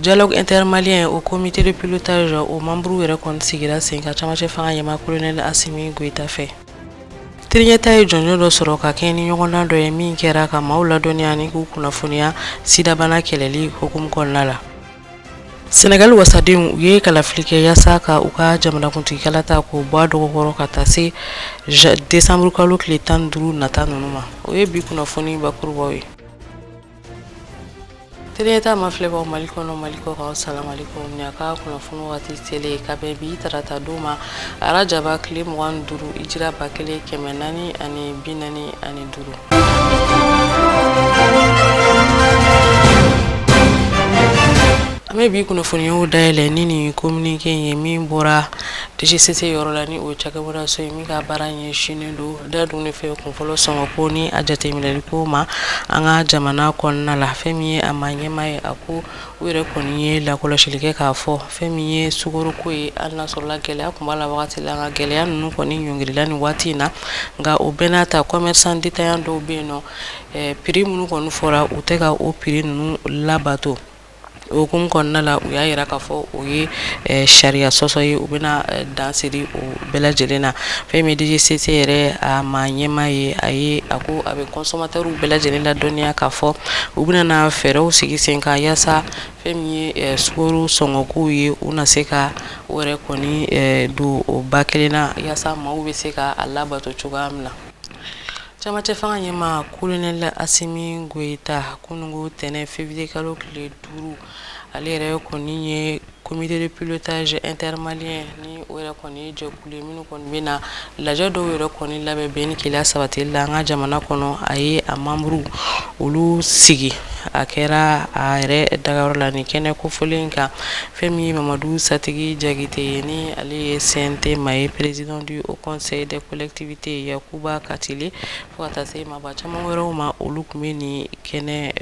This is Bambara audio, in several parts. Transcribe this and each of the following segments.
Dialogue inter-malien o comité de pilotage o membres yɛrɛ kɔni sigira sen kan camancɛ fanga ɲɛmaa colonel Assimi Goïta fɛ Tele Ɲɛtaa ye jɔnjɔn dɔ sɔrɔ ka kɛɲɛ ni ɲɔgɔndan dɔ ye min kɛra ka maaw ladɔnniya ni k'u kunnafoniya sidabana kɛlɛli hukumu kɔnɔna la sɛnɛgali wasadenw u ye kalafili kɛ yaasa ka u ka jamanakuntigi kalata k'o bɔ a dɔgɔkɔrɔ ka taa se desanburukalo tile tan duuru nata ninnu ma o ye bi kunnafoni bakurubaw ye Tele Ɲɛtaa mafilɛbaaw mali kɔnɔ mali kɔkan salamalekum ni a ka kunnafoni waati selen ka bɛn bi tarata don ma arajaba tile mugan duuru ijira ba kelen kɛmɛ naani ani bi naani ani duuru an bɛ bi kunnafoniw dayɛlɛ ni nin communiqué ye min bɔra DGCC yɔrɔ la ni o ye cakɛbɔdaso ye min ka baara ɲɛsinnen don Dadunnifɛn kunfɔlɔ sɔngɔ ko ni a jateminɛli ko ma an ka jamana kɔnɔna la fɛn min ye a maa ɲɛmaa ye a ko u yɛrɛ kɔni ye lakɔlɔsili kɛ k'a fɔ fɛn min ye sukaroko ye hali n'a sɔrɔla gɛlɛya tun b'a la wagati la nka gɛlɛya ninnu kɔni ɲɔngirila nin waati in na nka o bɛɛ n'a ta commerçants détaillants dɔw bɛ yen nɔ prix minnu kɔni fɔra u tɛ ka o prix ninnu labato O hukumu kɔnɔna la u y'a jira k'a fɔ o ye ɛ sariya sɔsɔ ye u bɛna ɛ dan siri o bɛɛ lajɛlen na fɛn min ye DGCC yɛrɛ a maa ɲɛmaa ye a ye a ko a bɛ consommateurs bɛɛ lajɛlen ladɔnniya k'a fɔ u bɛna fɛɛrɛw sigi sen kan yaasa fɛn min ye ɛ sukaro sɔngɔkow ye u na se ka o yɛrɛ kɔni ɛ don o ba kelen na yaasa maaw bɛ se ka a labato cogoya min na. Camancɛ fanga ɲɛmaa colonel Assimi Goïta kununko tɛnɛn février kalo tile duuru ale yɛrɛ kɔni ye comité de pilotage inter-malien ni o yɛrɛ kɔni ye jɛkulu ye minnu kɔni bɛna lajɛ dɔw yɛrɛ kɔni labɛn bɛn ni kelenya sabatili la an ka jamana kɔnɔ a ye a membres olu sigi a kɛra a yɛrɛ dagayɔrɔ la ni kɛnɛ kofɔlen in kan fɛn min ye mamadu satigi jakite ye ni ale ye CNT maa ye président du Haut Conseil des collectivités Yakuba Katile fo ka taa se maaba caman wɛrɛw ma olu tun bɛ nin kɛnɛ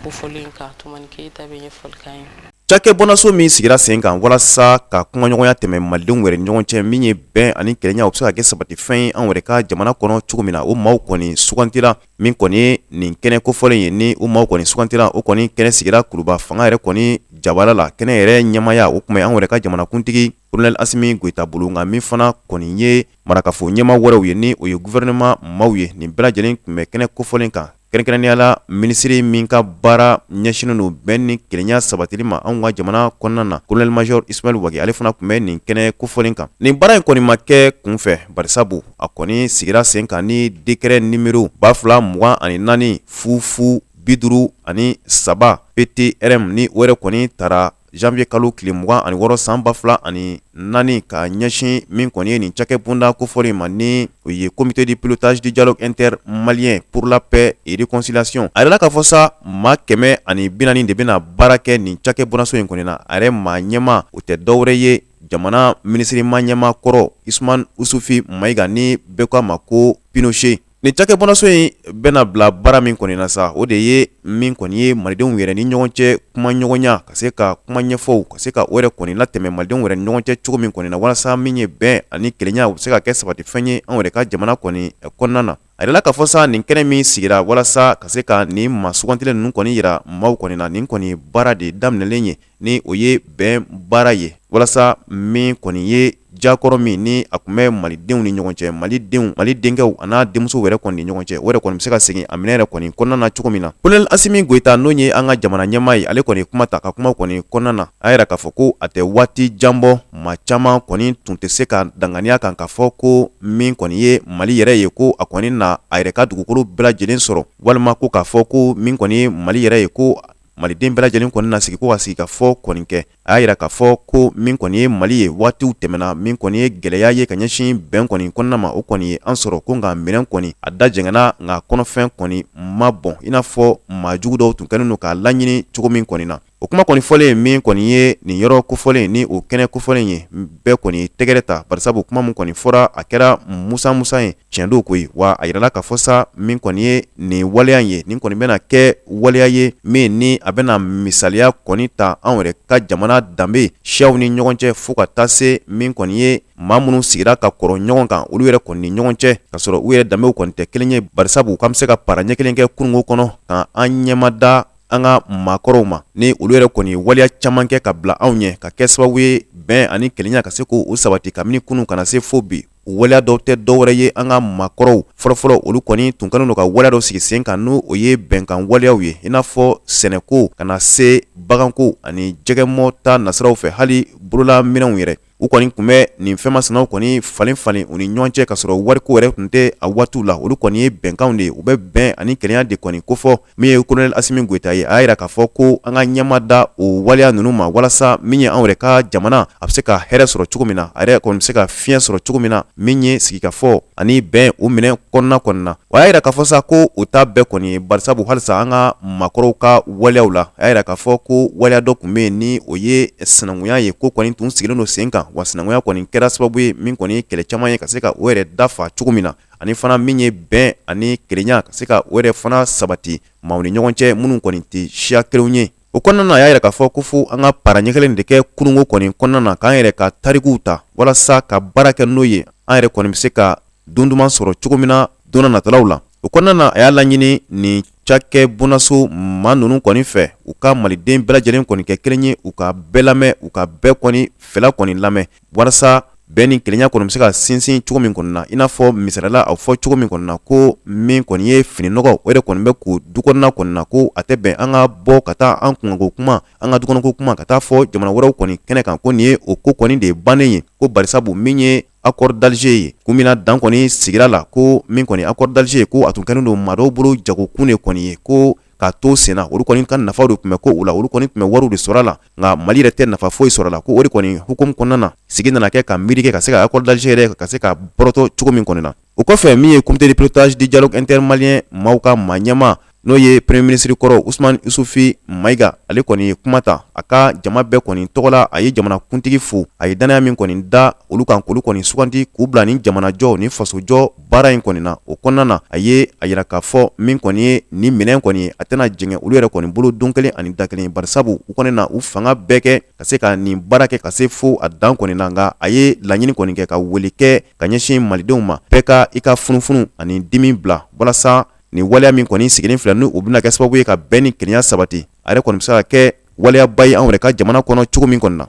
kofɔlen kan Tumani Keyita bɛ ɲɛfɔli k'an ye cakɛbɔdaso min sigira sen kan walasa ka kumaɲɔgɔnya tɛmɛ malidenw wɛrɛ ni ɲɔgɔn cɛ min ye bɛn ani kelenya o bɛ se ka kɛ sabatifɛn ye anw yɛrɛ ka jamana kɔnɔ cogo min na o maaw kɔni sugantila min kɔni nin kɛnɛ kofɔlen ye ni o maaw kɔni sugantila o kɔni kɛnɛ sigira Kuluba fanga yɛrɛ kɔni jabala la kɛnɛ yɛrɛ ɲɛmaaya o tun bɛ an yɛrɛ ka jamanakuntigi colonel Assimi Goïta bolo nka min fana kɔni ye marakafo ɲɛmaa wɛrɛw ye ni o ye gufɛrɛnɛma maaw ye nin bɛɛ lajɛlen tun bɛ kɛnɛ kofɔlen kan kɛrɛnkɛrɛnnenya la minisiri min ka baara ɲɛsinnen don bɛn ni kelenya sabatili ma anw ka jamana kɔnɔna na kolonɛli mazɔr ismaɛl wage ale fana tun bɛ nin kɛnɛ kofɔlen kan nin baara in kɔni ma kɛ kunfɛ barisabu a kɔni sigira sen kan ni dekrɛ nimero ba fila mugan ani naani fu fu biduuru ani saba ptrm ni o yɛrɛ kɔni tara Zanwuye kalo tile mugan ani wɔɔrɔ san ba fila ani naani ka ɲɛsin min kɔni ye nin cakɛbonda kofɔlen in ma ni o ye comité de pilotage du dialogue inter malien pour la paix et réconciliation a yirala k'a fɔ sa maa kɛmɛ ani binaani de bɛna baara kɛ nin cakɛbondaso in kɔnɔna na a yɛrɛ maa ɲɛmaa o tɛ dɔwɛrɛ ye jamana minisiri maa ɲɛmaa kɔrɔ usuman usufi mayiga ni bɛɛ k'a ma ko pinoshe Nin cakɛbondaso in bɛna bila baara min kɔni na sa o de ye min kɔni ye malidenw yɛrɛ ni ɲɔgɔn cɛ kumaɲɔgɔnya ka se ka kuma ɲɛfɔw ka se ka o yɛrɛ kɔni latɛmɛ malidenw yɛrɛ ni ɲɔgɔn cɛ cogo min kɔni na walasa min ye bɛn ani kelenya o bɛ se ka kɛ sabatifɛn ye an yɛrɛ ka jamana kɔni kɔnɔna na a yirala k'a fɔ sa nin kɛnɛ min sigira walasa ka se ka nin maa sugantilen ninnu kɔni yira maaw kɔni na nin kɔni baara de daminɛlen ye ni o ye bɛn baara ye walasa min kɔni ye jakɔrɔ min ni a tun bɛ malidenw ni ɲɔgɔn cɛ malidenw mali denkɛw a n'a denmusow yɛrɛ kɔni ni ɲɔgɔn cɛ o yɛrɛ kɔni bɛ se ka segin a minɛn yɛrɛ kɔni kɔnɔna na cogo min na kolonɛli asimi goyita n'o ye an ka jamana ɲɛmaa ye ale kɔni kuma ta ka kuma kɔni kɔnɔna na a y'a yira k'a fɔ ko a tɛ waati jan bɔ maa caman kɔni tun tɛ se ka danganiya kan k'a fɔ ko min kɔni ye mali yɛrɛ ye ko a kɔni na a yɛrɛ ka dugukolo bɛɛ lajɛlen sɔrɔ walima ko k'a fɔ ko min kɔni ye mali yɛrɛ ye ko maliden bɛɛ lajɛlen kɔni na sigi ko ka sigikafɔ kɔni kɛ a y'a yira k'a fɔ ko min kɔni ye mali ye waatiw tɛmɛna min kɔni ye gwɛlɛya ye ka ɲɛsin bɛn kɔni kɔnɔna ma o kɔni ye an sɔrɔ ko nka minɛn kɔni a da jɛngɛna nka kɔnɔfɛn kɔni ma bɔn i n'a fɔ maa jugu dɔw tun kɛlen don k'a laɲini cogo min kɔni na o kuma kɔni fɔlen min kɔni ye nin yɔrɔ kofɔlen ni o kɛnɛ kofɔlen ye bɛɛ kɔni tɛgɛrɛ ta barisabu kuma min kɔni fɔra a kɛra musa musa ye tiɲɛ don koyi wa a yirala k'a fɔ sa min kɔni ye nin waleya ye nin kɔni bɛna kɛ waleya ye min ni a bɛna misaliya kɔni ta anw yɛrɛ ka jamana danbe siyaw ni ɲɔgɔn cɛ fo ka taa se min kɔni ye maa minnu sigira ka kɔrɔ ɲɔgɔn kan olu yɛrɛ kɔni ni ɲɔgɔn cɛ k'a sɔrɔ u yɛrɛ danbew kɔni tɛ kelen ye barisabu k'an bɛ se ka para ɲɛ kelen kɛ kununko kɔnɔ ka an ɲɛmada an ka maakɔrɔw ma ni olu yɛrɛ kɔni waleya caman kɛ ka bila anw ɲɛ ka kɛ sababu ye bɛn ani kelenya ka se k'o sabati kabini kunun ka na se fo bi waleya dɔw tɛ dɔwɛrɛ ye an ka maakɔrɔw fɔlɔfɔlɔ olu kɔni tun kɛlen don ka waleya dɔ sigi sen kan ni o ye bɛnkan waleyaw ye i n'a fɔ sɛnɛko ka na se baganko ani jɛgɛmɔ ta nasiraw fɛ hali bolola minɛnw yɛrɛ u kɔni tun bɛ nin fɛn masinaw kɔni falen falen u ni ɲɔgɔn cɛ k'a sɔrɔ wariko yɛrɛ tun tɛ a waatiw la olu kɔni ye bɛnkanw de ye u bɛ bɛn ani kelenya de kɔni kofɔ min ye kolonɛli asimi goyita ye a y'a jira k'a fɔ ko an ka ɲɛma da o waleya ninnu ma walasa min ye anw yɛrɛ ka jamana a bɛ se ka hɛrɛ sɔrɔ cogo min na a yɛrɛ kɔni bɛ se ka fiɲɛ sɔrɔ cogo min na min ye sigikafɔ ani bɛn o minɛ kɔnɔna kɔni na a y'a jira k'a fɔ sa ko o ta bɛɛ kɔni ye barisabu halisa an ka maakɔrɔw ka waleyaw la a y'a jira k'a fɔ ko waleya dɔ tun bɛ yen ni o ye sinankunya ye k'o kɔni tun sigilen don sen kan wa sinankunya kɔni kɛra sababu ye min kɔni ye kɛlɛ caman ye ka se ka o yɛrɛ dafa cogo min na ani fana min ye bɛn ani kelenya ka se ka o yɛrɛ fana sabati maaw ni ɲɔgɔn cɛ minnu kɔni tɛ siya kelenw ye o kɔnɔna na a y'a yira k'a fɔ ko fo an ka para ɲɛ kelen de kɛ kununko kɔni kɔnɔna na k'an yɛrɛ ka tarikuw ta walasa ka baara kɛ n'o ye an yɛrɛ kɔni bɛ se ka don duman sɔrɔ cogo min na don natalaw la o kɔnɔna na a y'a laɲini nin cakɛ bonnaso maa ninnu kɔni fɛ u ka maliden bɛɛ lajɛlen kɔni kɛ kelen ye u ka bɛɛ lamɛn u ka bɛɛ kɔni fɛla kɔni lamɛn walasa bɛn ni kelenya kɔni bɛ se ka sinsin cogo min kɔni na i n'a fɔ misali la a fɔ cogo min kɔni na ko min kɔni ye fini nɔgɔ o de kɔni bɛ ko du kɔnɔna kɔni na ko a tɛ bɛn an ka bɔ ka taa an kunkanko kuma an ka dukɔnɔko kuma ka taa fɔ jamana wɛrɛw kɔni kɛnɛ kan ko nin ye o ko kɔni de ye bannen ye ko barisabu min ye accord d'Alger ye kun min na dan kɔni sigira a la ko min kɔni accord d'Alger ye ko a tun kɛlen don maa dɔw bolo jagokun de kɔni ye ko k'a to senna olu kɔni ka nafaw de tun bɛ ko u la olu kɔni tun bɛ wariw de sɔrɔ a la nka mali yɛrɛ tɛ nafa foyi sɔrɔ a la ko o de kɔni hukumu kɔnɔna na sigi nana kɛ ka miiri kɛ ka se ka accord d'Alger yɛrɛ ka se ka bɔrɔtɔ cogo min kɔni na o kɔfɛ min ye comité de pilotage du dialogue inter-maliens maaw ka maa ɲɛma n'o ye premier minisiri kɔrɔ usumani isufi mayiga ale kɔni ye kuma ta a ka jama bɛɛ kɔni tɔgɔ la a ye jamanakuntigi fo a ye dannaya min kɔni da olu kan k'olu kɔni sugandi k'u bila ni jamanajɔ ni fasojɔ baara in kɔni na o kɔnɔna na a ye a jira k'a fɔ min kɔni ye nin minɛn kɔni ye a tɛna jɛngɛ olu yɛrɛ kɔni bolo don kelen ani da kelen barisabu u kɔni na u fanga bɛɛ kɛ ka se ka nin baara kɛ ka se fo a dan kɔni na nka a ye laɲini kɔni kɛ ka wele kɛ ka ɲɛsin malidenw ma bɛɛ ka i ka funufunu ani dimi bila walasa nin waleya min kɔni sigilen filɛ n'u bɛna kɛ sababu ye ka bɛn ni kelenya sabati a yɛrɛ kɔni bɛ se ka kɛ waleyaba ye anw yɛrɛ ka jamana kɔnɔ cogo min kɔni na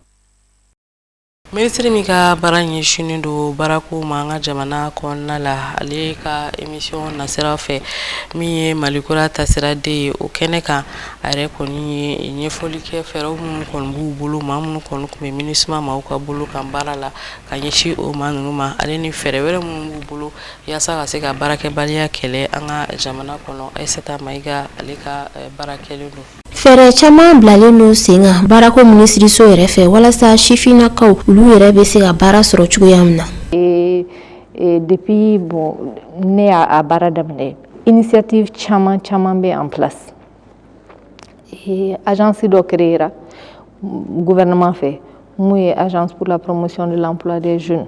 Minisiri min ka baara ɲɛsinnen don baarako ma an ka jamana kɔnɔna la ale ka émission nasira fɛ min ye Mali kura taasira de ye o kɛnɛ kan a yɛrɛ kɔni ye ɲɛfɔli kɛ fɛɛrɛw minnu kɔni b'u bolo maa minnu kɔni tun bɛ MINUSMA maaw ka bolo kan baara la ka ɲɛsin o maa ninnu ma ale ni fɛɛrɛ wɛrɛ minnu b'u bolo yaasa ka se ka baarakɛbaliya kɛlɛ an ka jamana kɔnɔ Ayisata Mayiga ale ka baara kɛlen don Fɛɛrɛ caman bilalen don sen kan baarako minisiriso yɛrɛ fɛ walasa sifinnakaw olu yɛrɛ bɛ se ka baara sɔrɔ cogoya min na depuis bon ne y'a baara daminɛ initiative caman caman bɛ en place agence dɔ créera gouvernement fɛ min ye agence pour la promotion de l'emploi des jeunes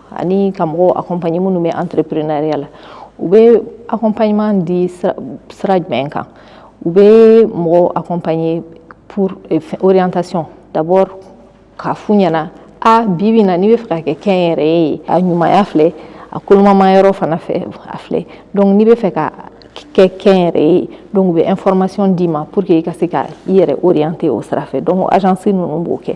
ani ka mɔgɔw accompagner minnu bɛ entrepreneuriat la u bɛ accompagnement di sira jumɛn kan u bɛ mɔgɔw accompagner pour eh, orientation d'abord k'a f'u ɲɛna a bi bi na n'i bɛ fɛ ka kɛ kɛnyɛrɛye ye a ɲumanya filɛ a kolomama yɔrɔ fana fɛ a filɛ donc n'i bɛ fɛ ka kɛ kɛnyɛrɛye ye donc u bɛ information d'i ma pour que i ka se ka i yɛrɛ orienter o sira fɛ donc agence ninnu b'o kɛ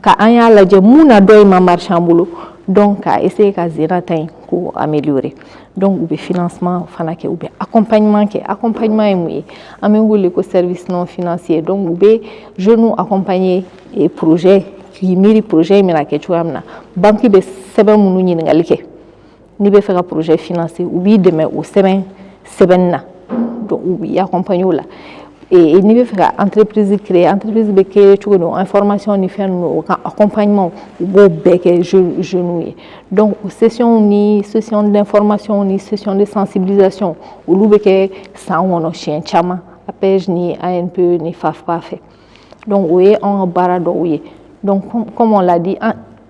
ka an y'a lajɛ mun na dɔ in ma marché an bolo donc ka essayer ka zena ta in k'o améliorer donc u bɛ financement fana kɛ u bɛ accompagnement kɛ accompagnement ye mun ye an bɛ wele ko service non financier donc u bɛ jeunes accompagner eh, projet k'i miiri projet in bɛna kɛ cogoya min na banque bɛ sɛbɛn minnu ɲininkali kɛ n'i bɛ fɛ ka projet financer u b'i dɛmɛ o sɛbɛn sɛbɛnni na donc u b'i accompagner o la et n'i bɛ fɛ ka entreprise créer entreprise bɛ créer cogo don information ni fɛn ninnu o ka accompagnement u b'o bɛɛ kɛ jeunes ye donc o session ni session d'information ni session de sensibilisation olu bɛ kɛ san kɔnɔ siɲɛ caman APEJ ni ANPE ni FAFPA fɛ donc o ye anw ka baara dɔw ye donc comme on l'a dit an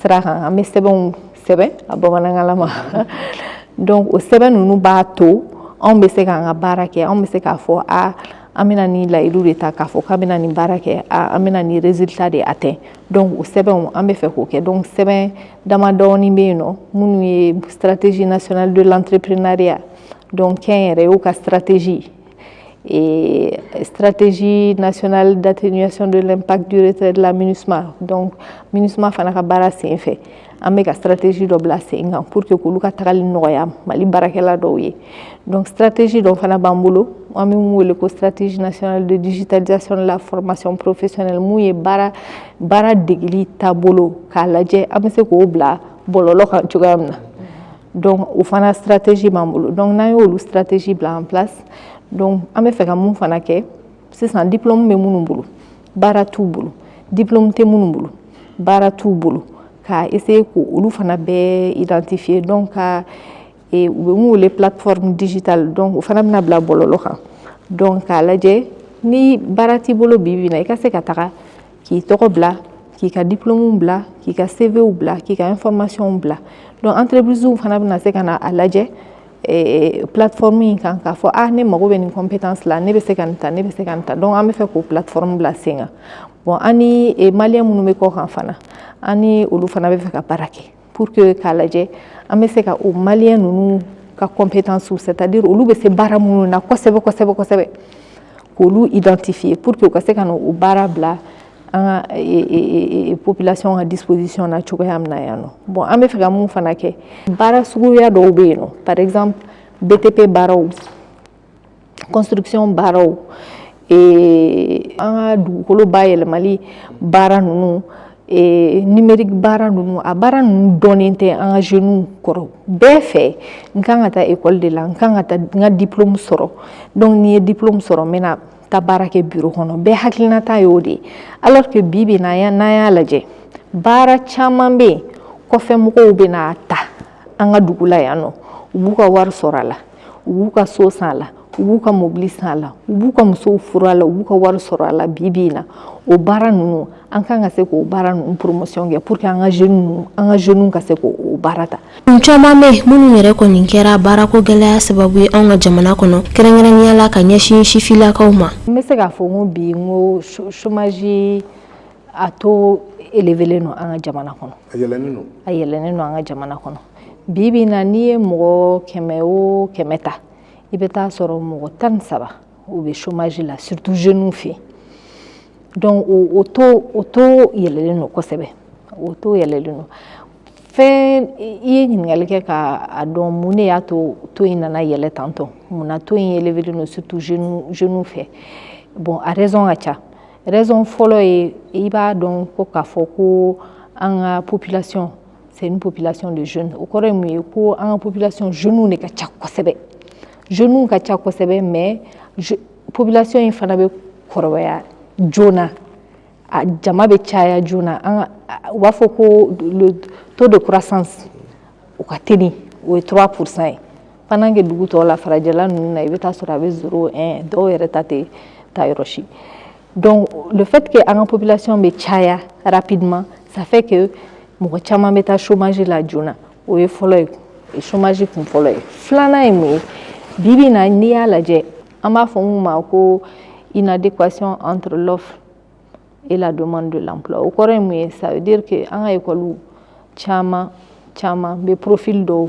sira kan an bɛ sɛbɛnw sɛbɛn a bamanankanlama donc o sɛbɛn ninnu b'a to anw bɛ se k'an ka baara kɛ anw bɛ se k'a fɔ a an bɛna nin layidu de ta k'a fɔ k'an bɛna nin baara kɛ a an bɛna nin résultat de atteint donc o sɛbɛnw an bɛ fɛ k'o kɛ donc sɛbɛn damadɔɔni bɛ yen nɔ minnu ye stratégie nationale de l'entrepreneuriat donc kɛnyɛrɛyew ka stratégie et stratégie nationale d'atténuation de l'impact du retrait de la MINUSMA donc MINUSMA fana ka baara sen fɛ an bɛ ka stratégie dɔ bila sen kan pour que k'olu ka tagali nɔgɔya Mali baarakɛla dɔw ye donc stratégie dɔ fana b'an bolo an bɛ mun wele ko stratégie nationale de digitalisation de la formation professionnelle mun ye baara degeli taabolo k'a lajɛ an bɛ se k'o bila bɔlɔlɔ kan cogoya min na Donc o fana stratégie b'an bolo donc n'an y'olu stratégie bila en place donc an bɛ fɛ ka mun fana kɛ sisan diplôme bɛ minnu bolo baara t'u bolo diplôme tɛ minnu bolo baara t'u bolo ka essayer k'olu fana bɛɛ identifier donc ka e, u bɛ mun wele plateforme digitale donc o fana bɛna bila bɔlɔlɔ kan donc k'a lajɛ ni baara t'i bolo bi bi in na i ka se ka taga k'i tɔgɔ bila k'i ka diplômew bila k'i ka CVw bila k'i ka informationw bila donc entreprisew fana bɛna se ka na a lajɛ eh, plateforme in kan k'a fɔ ah ne mago bɛ nin compétence la ne bɛ se ka nin ta ne bɛ se ka nin ta donc an bɛ fɛ k'o plateforme bila sen kan bon an ni eh, maliyɛn minnu bɛ kɔkan fana an ni olu fana bɛ fɛ ka baara kɛ pour que k'a lajɛ an bɛ se ka o maliyɛn ninnu ka compétence c'est à dire olu bɛ se baara minnu na kosɛbɛ kosɛbɛ kosɛbɛ k'olu identifier pour que u ka se ka na o baara bila an ka population ka disposition na cogoya min na yan nɔ bon an bɛ fɛ ka mun fana kɛ baara suguya dɔw bɛ yen nɔ par exemple BTP baaraw construction baaraw ee an ka dugukolo bayɛlɛmali baara ninnu ee numérique baara ninnu a baara ninnu dɔnnen tɛ an ka jeunes kɔrɔ bɛɛ fɛ n kan ka taa école de la n kan ka taa n ka diplôme sɔrɔ donc ni n ye diplôme sɔrɔ n bɛna taa baara kɛ bureau kɔnɔ bɛɛ hakilinata y'o de ye alors que bi bi n'an y'a n'an y'a lajɛ baara caman bɛ yen kɔfɛmɔgɔw bɛna ta an ka dugu la yan nɔ u b'u ka wari sɔrɔ a la u b'u ka so san a la u b'u ka mobili san a la u b'u ka musow furu a la u b'u ka wari sɔrɔ a la bi bi in na o baara ninnu an kan ka se k'o baara ninnu promotion kɛ pour que an ka jeunes ninnu an ka jeunes ka se k'o baara ta. kun caman bɛ minnu yɛrɛ kɔni kɛra baarako gɛlɛya sababu ye anw ka jamana kɔnɔ kɛrɛnkɛrɛnnenya la ka ɲɛsin sifilakaw ma. n bɛ se k'a fɔ n ko bi n ko chômage a taux élevélen don an ka jamana kɔnɔ a yɛlɛnnen don a yɛlɛnnen don an ka jamana kɔnɔ bi bi na n'i ye mɔgɔ kɛmɛ o kɛmɛ ta i bɛ taa sɔrɔ mɔgɔ tan ni saba u bɛ chômage la surtout jeunes fɛ donc o taux o taux yɛlɛlen don kosɛbɛ o taux yɛlɛlen don fɛn i ye ɲininkali kɛ ka a dɔn mun de y'a to taux in nana yɛlɛ tantɔ mun na taux in yɛlɛlen don surtout jeunes jeunes fɛ bon a raison ka ca raison fɔlɔ ye i b'a dɔn ko k'a fɔ ko an ka population c'est une population de jeunes o kɔrɔ ye mun ye ko an ka population jeunes de ka ca kosɛbɛ jeunes ka ca kosɛbɛ mais population in fana bɛ kɔrɔbaya joona a jama bɛ caya joona an ka u b'a fɔ ko le taux de croissance o ka teli o ye 3 pourcent ye pendant que dugu tɔw la farajɛla ninnu na i bɛ taa sɔrɔ a bɛ zéro un dɔw yɛrɛ ta tɛ taa yɔrɔ si donc le fait que an ka population bɛ caya rapidement ça fait que mɔgɔ caman bɛ taa chômage la joona o ye fɔlɔ ye e chômage kun fɔlɔ ye filanan ye mun ye bi bi in na n'i y'a lajɛ an b'a fɔ mun ma ko inadéquation entre l'offre et la demande de l'emploi o kɔrɔ ye mun ye ça veut dire que an ka ekɔliw caman caman bɛ profil dɔw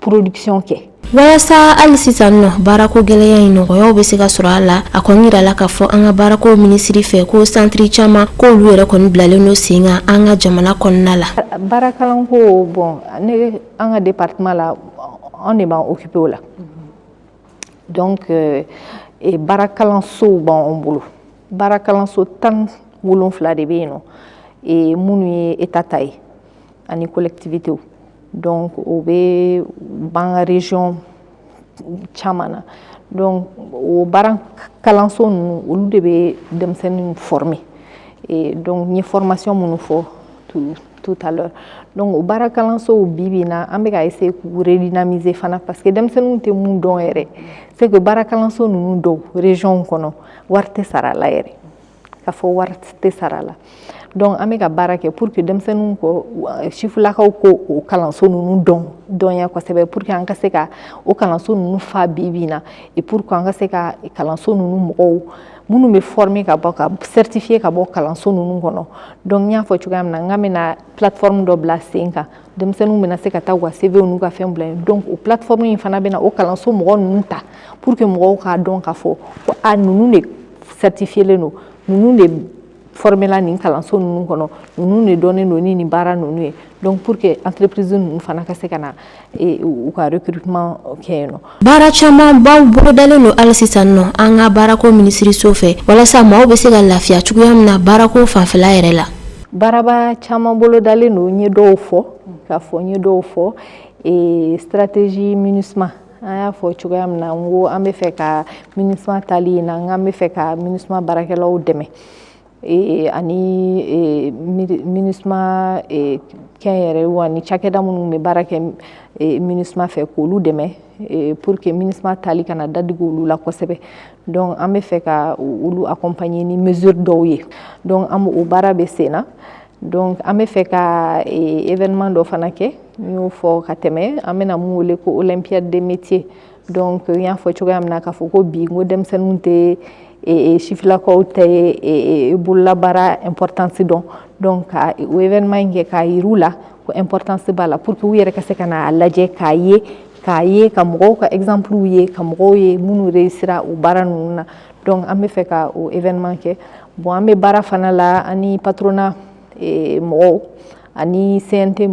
production kɛ walasa hali sisan nɔ baarako gɛlɛya in nɔgɔyaw bɛ se ka sɔrɔ a la a kɔni yirala k'a fɔ an ka baarako minisiri fɛ ko centre caman k'olu yɛrɛ kɔni bilalen don sen kan an ka jamana kɔnɔna la baarakalanko bon ne an ka departement la an de b'an occuper o la donc euh, e baarakalansow b'an bolo baarakalanso tan wolonfila de bɛ yen nɔ e minnu ye État ta ye ani collectivitéw donc o bɛ b'an ka région caman na donc o baara kalanso ninnu olu de bɛ denmisɛnninw former donc n ye formation minnu fɔ tout à l'heure donc o baara kalansow bibi na an bɛ ka essayer k'u redynamiser fana parce que denmisɛnninw tɛ mun dɔn yɛrɛ c'est que baara kalanso ninnu dɔw régionw kɔnɔ wari tɛ sara a la yɛrɛ k'a fɔ wari tɛ sara la donc an bɛ ka baara kɛ pour que denmisɛnninw ko sifulakaw ko o kalanso ninnu dɔn dɔnya kosɛbɛ pour que an ka se ka o kalanso ninnu fa bi bi na et pour que an ka se ka kalanso ninnu mɔgɔw minnu bɛ former ka bɔ ka certifier ka bɔ kalanso ninnu kɔnɔ donc n y'a fɔ cogoya min na n k'an bɛna plateforme dɔ bila sen kan denmisɛnninw bɛna se ka taa u ka CVw n'u ka fɛn bila yen donc o plateforme in fana bɛna o kalanso mɔgɔ ninnu ta pour que mɔgɔw k'a dɔn k'a fɔ ko a ninnu de certifielen don ninnu de formela nin kalanso ninnu kɔnɔ ninnu de dɔnnen don ni nin baara ninnu ye donc pour que entreprise ninnu fana ka se ka na u ka recrutement kɛ yen nɔ Baara caman baw bolodalen don hali sisan nɔ an ka baarako minisiriso fɛ walasa maaw bɛ se ka lafiya cogoya min na baarako fanfɛla yɛrɛ la. Baaraba caman bolodalen don n ye dɔw fɔ k'a fɔ n ye dɔw fɔ ee stratégie MINUSMA an y'a fɔ cogoya min na n ko an bɛ fɛ ka MINUSMA taali in na n k'an bɛ fɛ ka MINUSMA baarakɛlaw dɛmɛ. ee ani ee, MINUSMA ee, kɛnyɛrɛyew ani cakɛda minnu bɛ baara kɛ ee, MINUSMA fɛ k'olu dɛmɛ ee, pour que MINUSMA taali kana dadigi olu la kosɛbɛ donc an bɛ fɛ ka olu accompagner ni mesure dɔw ye donc an o baara bɛ sen na donc an bɛ fɛ ka ee, événement dɔ fana kɛ n y'o fɔ ka tɛmɛ an bɛna mun wele ko olympiade des métiers donc n y'a fɔ cogoya min na k'a fɔ ko bi n ko denmisɛnninw tɛ sifilakaw tɛ bololabaara importance dɔn donc ka o événement in kɛ k'a yir'u la ko importance b'a la pour que u yɛrɛ ka se ka n'a lajɛ k'a ye k'a ye ka mɔgɔw ka exemplew ye ka mɔgɔw ye minnu réussira o baara ninnu na donc an bɛ fɛ ka o événement kɛ bon an bɛ baara fana la ani patronat mɔgɔw ani CNT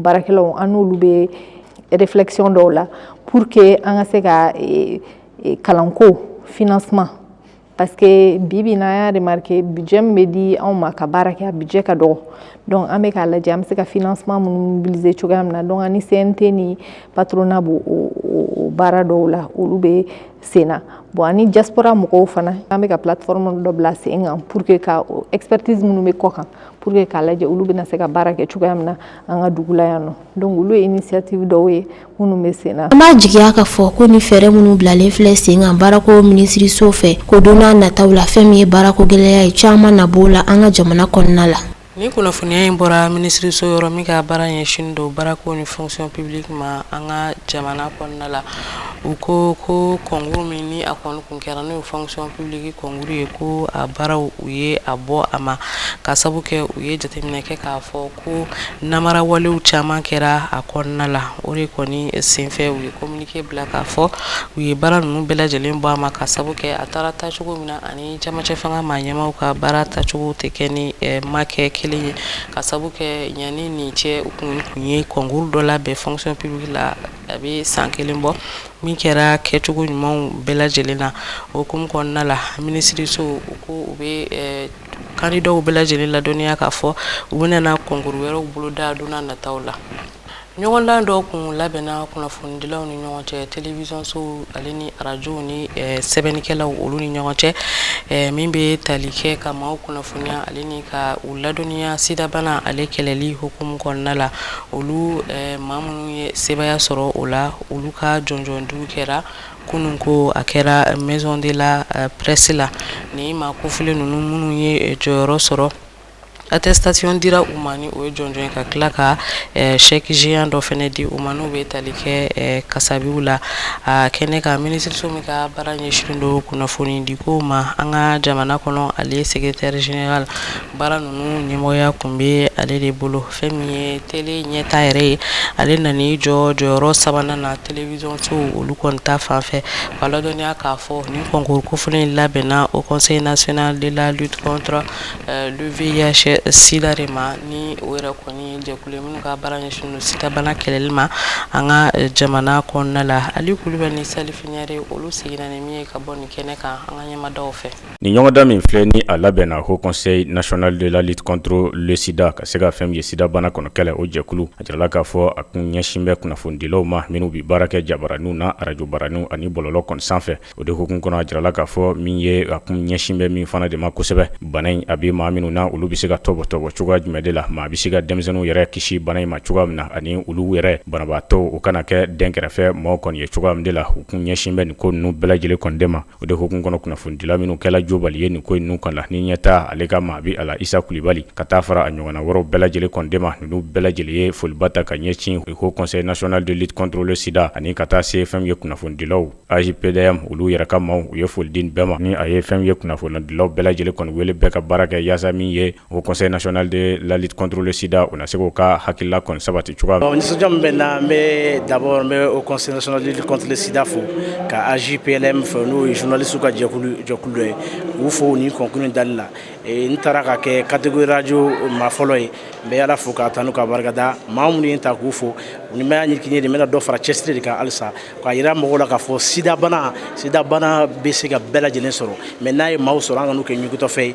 baarakɛlaw an n'olu bɛ réflexion dɔw la pour que an ka se ka e, e, kalanko financement parce que bi bi n'an y'a remarqué budget min bɛ di anw ma ka baara kɛ a budget ka dɔgɔ donc an bɛ k'a lajɛ an bɛ se ka financement minnu mobiliser cogoya min na donc ani CNT ni patronat b'o o baara dɔw la olu bɛ sen na bon ani diaspora mɔgɔw fana an bɛ ka plateforme dɔ bila sen kan pour que ka expertise minnu bɛ kɔ kan pour que k'a lajɛ olu bɛna se ka baara kɛ cogoya min na an ka dugu la yan nɔ donc olu ye initiative dɔw ye minnu bɛ sen na an b'a jigiya ka fɔ ko ni fɛɛrɛ minnu bilalen filɛ sen kan baarako minisiriso fɛ ko don n'a nataw la fɛn min ye baarako gɛlɛya ye caman na b'o la an ka jamana kɔnɔna la ni kunnafoniya in bɔra minisiriso yɔrɔ min ka baara ɲɛsin don baarako ni fonction publique ma an ka jamana kɔnɔna la u ko ko concours min ni a kɔni Kɛra n'o fonction publique concours ye ko a baaraw u ye a bɔ a ma ka sabu kɛ u ye jateminɛ kɛ k'a fɔ ko namara walew caman kɛra a kɔnɔna la o de kɔni senfɛ u ye communiqué bila k'a fɔ u ye baara ninnu bɛɛ lajɛlen bɔ a ma ka sabu kɛ a taara taacogo min na ani camancɛ fanga maa ɲɛmaw ka baara taacogo tɛ kɛ ni ma kɛ kelen ye ka sabu kɛ ɲani nin cɛ u kun ye concours dɔ labɛn fonction publique la A bɛ san kelen bɔ min kɛra kɛcogo ɲumanw bɛɛ lajɛlen na o hukumu kɔnɔna la minisiriso u ko u bɛ candidatw bɛɛ lajɛlen ladɔnniya k'a fɔ u bɛna concours wɛrɛw boloda don nataw la ɲɔgɔndan dɔw kun labɛnna kunnafonidilaw ni ɲɔgɔn cɛ télévision sow ale ni arajow ni sɛbɛnnikɛlaw olu ni ɲɔgɔn cɛ min bɛ tali kɛ ka maaw kunnafoniya ale ni ka u ladɔnniya sidabana ale kɛlɛli hukumu kɔnɔna la olu maa ye sebaaya sɔrɔ o la olu ka jɔnjɔn di ko kɛra kunun ko a kɛra maison de la presse la ni maa kofɔlen ninnu minnu ye jɔyɔrɔ sɔrɔ attestation dira u ma ni o ye jɔnjɔn ye ka tila ka chèque géant dɔ fɛnɛ di u ma n'u bɛ tali kɛ kasabiw la a kɛnɛ kan minisiriso min ka baara ɲɛsin don kunnafoni di ko ma an ka jamana kɔnɔ ale secrétaire général Baara ninnu ɲɛmɔgɔya kun bɛ ale de bolo fɛn min ye télé ɲɛta yɛrɛ ye ale nan'i jɔ jɔyɔrɔ sabanan na télévision so olu kɔni ta fan fɛ k'a ladɔnniya k'a fɔ nin concours kofɔlen in labɛnna Haut conseil national de la lutte contre le VIH sida de ma ni o yɛrɛ kɔni jɛkulu minnu ka baara ɲɛsin sidabana kɛlɛli ma an ka jamana kɔnɔna la Ali Kulibali ni Salifu Ɲare olu seginna ni min ye ka bɔ nin kɛnɛ kan an ka ɲɛmada fɛ Nin ɲɔgɔndan min filɛ ni a labɛnna Haut conseil national de lutte contre le sida ka se ka fɛn min ye sidabana kɔnɔ kɛlɛ o jɛkulu a jirala k'a fɔ a kun ɲɛsin bɛ kunnafonidilaw ma minnu bɛ baara kɛ jabaraninw na arajo baraninw ani bɔlɔlɔ kɔni sanfɛ o de hukumu kɔnɔ a jirala k'a fɔ min ye a kun ɲɛsin bɛ min fana de ma kosɛbɛ bana in a bɛ maa minnu na olu bɛ se ka tɔpɔtɔ cogoya jumɛn de la maa bɛ se ka denmisɛnninw yɛrɛ kisi bana in ma cogoya min na ani olu yɛrɛ banabaatɔ u kana kɛ dɛnkɛrɛfɛ maaw kɔni ye cogoya min de la u kun ɲɛsin bɛ nin ko ninnu bɛɛ lajɛlen kɔni de ma O de hukumu kɔnɔ kunnafonidila minnu kɛla jobali ye nin ko ninnu kɔni la ni ɲɛta ale ka maa bɛ a la Isa Kulibali ka taa fara a ɲɔgɔnna wɛrɛw bɛɛ lajɛlen kɔni de ma ninnu bɛɛ lajɛlen ye foliba ta ka ɲɛsin Haut conseil national de lutte contre le sida ani ka taa se fɛn ye kunnafonidilaw AJPDM olu yɛrɛ ka maaw u ye foli di nin bɛɛ ma ni a ye fɛn ye kunnafonidilaw bɛɛ lajɛlen kɔni wele bɛɛ ka baara kɛ yaasa min ye O kɔsɔn in naon de lali kɔntrolisida u na se k' ka hakilila kɔn sabati cogoya la nisɔnja bɛ n na n bɛ dabɔ n bɛ o kɔsɔnlilisisidida fo ka azpɛɛlɛ min fɛ n'o ye zvinlisiw ka jɛkulujɔkulu ye u fɔ ni kɔnkun dali la n taara ka kɛ kategoyuraj maa fɔlɔ ye n bɛ ala fo ka tan n ka barikada maa minnu ye ta k'u fɔ ni ma y'a ɲɛc de bɛna dɔ fara cɛsiri de ka halisa ka a jira mɔgɔ la kaa fɔ sidabana sidabana bɛ se ka bɛɛ lajɛlen sɔrɔ mɛ n'a ye maaw sɔrɔ an ka'u kɛ ɲɔgɔntɔfɛ ye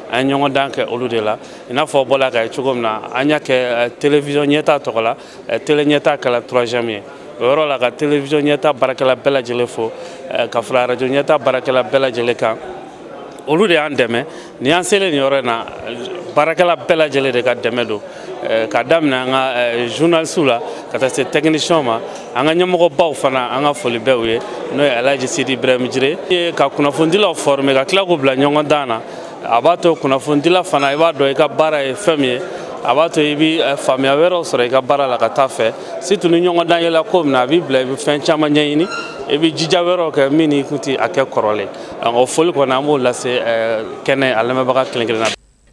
an ye ɲɔgɔn dan kɛ olu de la i n'a fɔ bɔla k'a ye cogo min na an y'a kɛ eh, télévision ɲɛta tɔgɔ la eh, télé ɲɛta kɛla troisième ye o yɔrɔ la ka télévision ɲɛta baarakɛla bɛɛ lajɛlen fo eh, ka fara radio ɲɛta baarakɛla bɛɛ lajɛlen kan olu de y'an dɛmɛ ni an selen nin yɔrɔ in na baarakɛla bɛɛ lajɛlen de ka dɛmɛ don eh, ka daminɛ an ka eh, journalisiw la ka taa se tɛkinisiyɛnw ma an ka ɲɛmɔgɔbaw fana an ka foli bɛ u ye n'o ye alaji sidi ibrahim jire ye ka kunnafonidilaw former ka tila k'u bila ɲɔgɔn dan na a b'a to kunnafonidila fana i b'a dɔn i ka baara ye fɛn min ye a b'a to i bɛ eh, faamuya wɛrɛw sɔrɔ i ka baara la ka taa fɛ surtout ni ɲɔgɔn dan yɛlɛ ko min na a b'i bila i bɛ fɛn caman ɲɛɲini i bɛ jija wɛrɛw kɛ min n'i kun tɛ a kɛ kɔrɔlen o foli kɔni an b'o lase eh, kɛnɛ a lamɛnbaga kelen kelen na.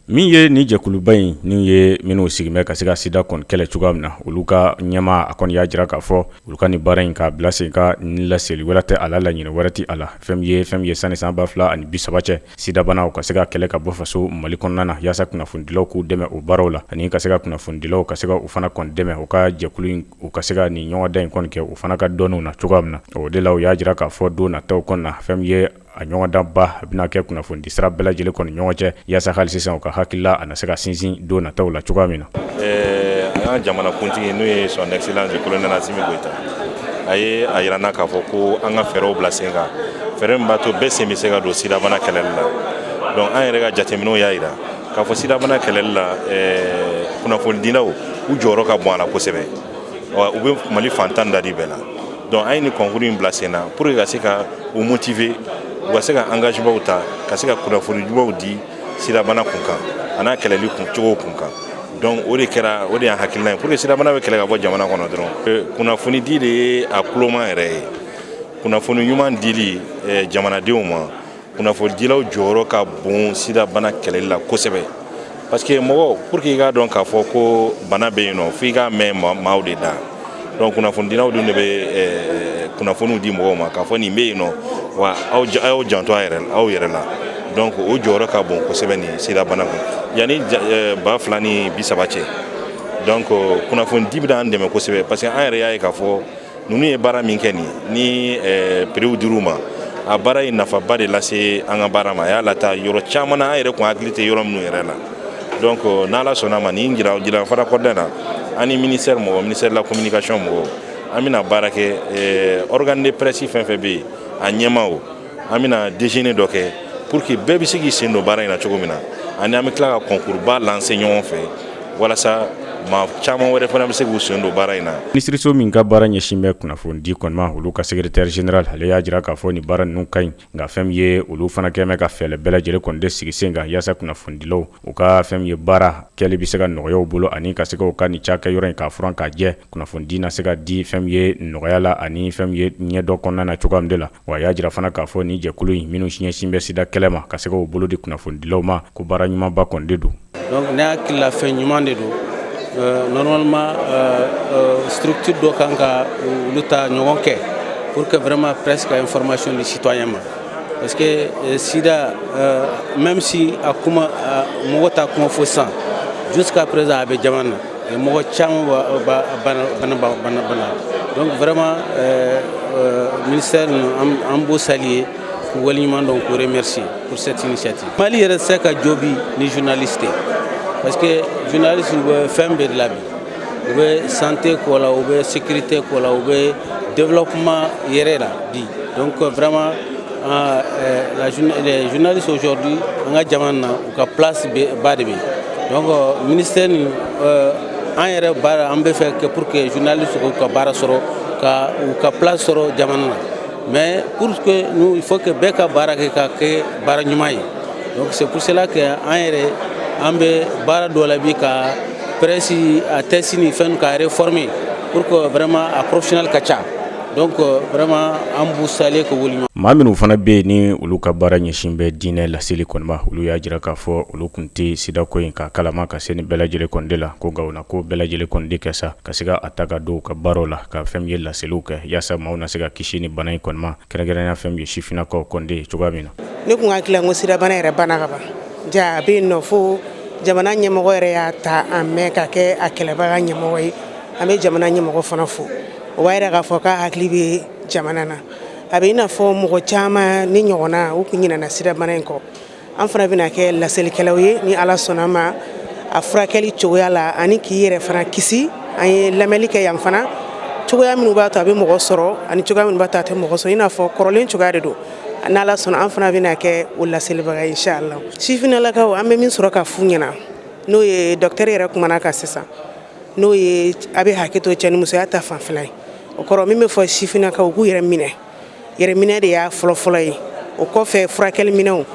min ye nin jɛkuluba in n'o ye minnu sigin bɛ ka se ka sida kɔni kɛlɛ cogoya min na olu ka ɲɛmaa kɔni y'a jira k'a fɔ olu ka nin baara in k'a bila sen kan ni laseli wɛrɛ tɛ a la laɲini wɛrɛ tɛ a la fɛn min ye fɛn min ye sanni san ba fila ani bisaba cɛ sidabana u ka se ka kɛlɛ ka bɔ faso mali kɔnɔna na yaasa kunnafonidilaw k'u dɛmɛ o baaraw la ani ka se ka kunnafonidilaw ka se ka u fana kɔni dɛmɛ u ka jɛkulu in u ka se ka nin ɲɔgɔndan in kɔni kɛ u fana ka dɔnniw na cogoya min na o de la u y'a jira k'a fɔ don nataw kɔnɔna na fɛn min ye a ɲɔgɔndanba a bɛna kɛ kunnafoni di sira bɛɛ lajɛlen kɔni ɲɔgɔn cɛ yaasa hali sisan u ka hakilila a na se ka sinsin don nataw la cogoya min na. Ɛɛ an ka jamanakuntigi n'o ye son excellence le colonel Assimi Goita a ye a yira an na k'a fɔ ko an ka fɛɛrɛw bila sen kan fɛɛrɛ min b'a to bɛɛ sen bɛ se ka don sidabana kɛlɛli la donc an yɛrɛ ka jateminɛw y'a yira k'a fɔ sidabana kɛlɛli la kunnafonidilaw u jɔyɔrɔ ka bon a la kosɛbɛ u bɛ Mali fan tan ni naani bɛɛ la. Donc an ye nin concours in bila sen na pour que ka se ka u motiver u ka se ka engagementw ta ka se ka kunnafoni ɲumanw di sidabana kun kan an'a kɛlɛli cogow kun kan donc o de kɛra o de y'an hakilina ye pour que sidabana bɛ kɛlɛ ka bɔ jamana kɔnɔ dɔrɔn euh, kunnafoni di de ye a kuloma yɛrɛ ye kunnafoni ɲuman dili euh, jamanadenw ma kunnafonidilaw jɔyɔrɔ ka bon sida bana kɛlɛli la kosɛbɛ parce que mɔgɔ pour que i k'a dɔn k'a fɔ ko bana bɛ yen nɔ f'i k'a mɛn maaw de da donc kunnafonidilaw dun de bɛ eh, kunnafoniw di mɔgɔw ma k'a fɔ nin bɛ yen nɔ wa aw y'aw janto a yɛrɛ aw yɛrɛ la donc o jɔyɔrɔ ka bon kosɛbɛ nin sida bana kun yanni eh, ba fila ni bisaba cɛ donc kunnafonidi bɛna an dɛmɛ kosɛbɛ parce que an yɛrɛ y'a ye k'a fɔ ninnu ye baara min kɛ nin ni eh, prix dir'u ma a baara ye nafaba de lase an ka baara ma a y'a lata yɔrɔ caman na an yɛrɛ kun hakili tɛ yɔrɔ minnu yɛrɛ la donc euh, n'ala sɔnna ma nin jira jira fara kɔda na an ni ministère mɔgɔ ministère de la communication mɔgɔ an bɛna baara kɛ eh, organe de presse fɛn fɛn bɛ yen a ɲɛmaaw an bɛna déjeuner dɔ kɛ pour que bɛɛ bɛ se k'i sen don baara in na cogo min na ani an bɛ tila ka concours ba lancer ɲɔgɔn fɛ walasa maa caman wɛrɛ fana bɛ se k'u sen don baara in na. Minisiriso min ka baara ɲɛsin bɛ kunnafoni di kɔni ma, olu ka secrétaire général ale y'a jira k'a fɔ nin baara ninnu ka ɲi, nka fɛn min ye olu fana kɛ bɛ ka fɛɛlɛ bɛɛ lajɛlen kɔni de sigi sen kan yaasa kunnafonidilaw u ka fɛn min ye baara kɛli bɛ se ka nɔgɔya u bolo ani ka se ka u ka nin cakɛyɔrɔ in k'a furan k'a jɛ, kunnafonidi na se ka di fɛn min ye nɔgɔya la ani fɛn min ye ɲɛdɔn kɔnɔna na cogoya min de la. Wa a y'a jira fana k'a fɔ nin jɛkulu in minnu ɲɛsin bɛ sida kɛlɛ ma ka se ka u bolo di kunnafonidilaw ma ko baara ɲumanba kɔni de don donc ne hakili la fɛn ɲuman de don euh, normalement euh, euh, structure dɔ kan ka olu ta ɲɔgɔn kɛ pour que vraiment presse ka information di citoyen ma parce que sida même si a kuma mɔgɔ t'a kuma fɔ sa jusqu'à présent a bɛ jamana na mɔgɔ caman bana donc vraiment euh, euh, ministère an b'u saluer k'u waleɲuman dɔn k'u remercier pour cette initiative mali yɛrɛ tɛ se ka jɔ bi ni journaliste tɛ parce que journaliste u bɛ fɛn bɛɛ de la bi u bɛ santé ko la u bɛ sécurité ko la u bɛ développement yɛrɛ la bi donc vraiment euh, euh, la, les journalistes aujourd'hui an ka jamana na U ka place ba de bɛ yen donc ministère nin euh, an yɛrɛ baara an bɛ fɛ que pour que journaliste u ka baara sɔrɔ ka u ka place sɔrɔ jamana na mais pour que nous il faut que bɛɛ ka baara kɛ ka kɛ baara ɲuman ye donc c'est pour cela que an yɛrɛ an bɛ baara dɔ la bi ka presse a texte ni fɛn ka réformer pour que vraiment a professionnel ka ca donc euh, vraiment an b'u saluer ka wuli maa minnu fana bɛ yen ni olu ka baara ɲɛsin bɛ diinɛ laseli kɔni ma olu y'a jira k'a fɔ olu kun tɛ sidako in ka kalama ka se ni bɛɛ lajɛlen kɔni de la ko nka o na ko bɛɛ lajɛlen kɔni de kɛ sa ka se ka a ta ka don u ka baaraw la ka fɛn min ye laseliw kɛ yaasa maaw na se ka kisi ni bana in kɔni ma kɛrɛnkɛrɛnya fɛn min ye sifinnakaw kɔni de ye cogoya min na ne kun hakili la ko sida bana yɛrɛ banna ka ban ja a bɛ yen nɔ fo jamana ɲɛmɔgɔ yɛrɛ y'a ta an mɛn ka kɛ a kɛlɛbaga ɲɛmɔgɔ ye an bɛ jamana ɲɛmɔgɔ fana fo o b'a jira k'a fɔ k'a hakili bɛ jamana na a bɛ i n'a fɔ mɔgɔ caman ne ɲɔgɔnna u tun ɲinɛna sida bana in kɔ an fana bɛna kɛ laselikɛlaw ye ni ala sɔnna ma a furakɛli cogoya la ani k'i yɛrɛ fana kisi an ye lamɛnli kɛ yan fana cogoya minnu b'a to a bɛ mɔgɔ sɔrɔ ani cogoya minnu b'a to a tɛ mɔgɔ sɔrɔ i n'a fɔ kɔrɔlen cogoya de don n'ala sɔnna an fana bɛna kɛ o laselibaga ye inshallah sifinnalakaw an bɛ min sɔrɔ ka f'u ɲɛna n'o ye docteur yɛrɛ kumana kan sisan n'o ye a bɛ hakɛ to cɛnimusoya ta fan fɛla ye o kɔrɔ min bɛ fɔ sifinnakaw u k'u yɛrɛ minɛ yɛrɛminɛ de y'a fɔlɔfɔlɔ ye o kɔfɛ furakɛliminɛnw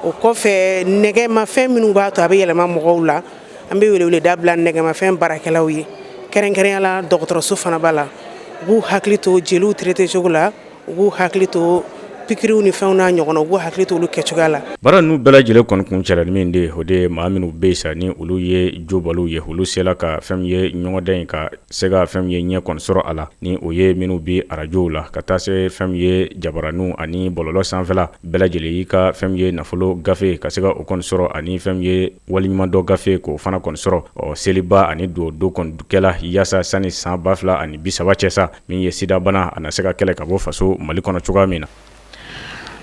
o kɔfɛ nɛgɛmafɛn minnu b'a to a bɛ yɛlɛma mɔgɔw la an bɛ weleweleda bila nɛgɛmafɛn baarakɛlaw ye kɛrɛnkɛrɛnya la dɔgɔtɔrɔso fana b'a la u k'u hakili to jeliw tirete cogo la u k'u hakili to pikiriw ni fɛnw n'a ɲɔgɔn u k'u hakili to olu kɛ cogoya la baara ninnu bɛɛ lajɛlen kɔni kuncɛlen min de o de maa minnu bɛ yen sa ni olu ye jobaliw ye olu sela ka fɛn min ye ɲɔgɔndan in ka se ka fɛn min ye ɲɛ kɔni sɔrɔ a la ni o ye minnu bɛ arajow la ka taa se fɛn min ye jabaraninw ani bɔlɔlɔ sanfɛla bɛɛ lajɛlen i ka fɛn min ye nafolo gafe ka se ka o kɔni sɔrɔ ani fɛn min ye waleɲumandɔn gafe k'o fana kɔni sɔrɔ ɔ seliba ani don don kɔni kɛla yaasa sanni san ba fila ani bi saba cɛ sa min ye sidabana a na se ka kɛlɛ ka bɔ faso mali kɔnɔ cogoya min na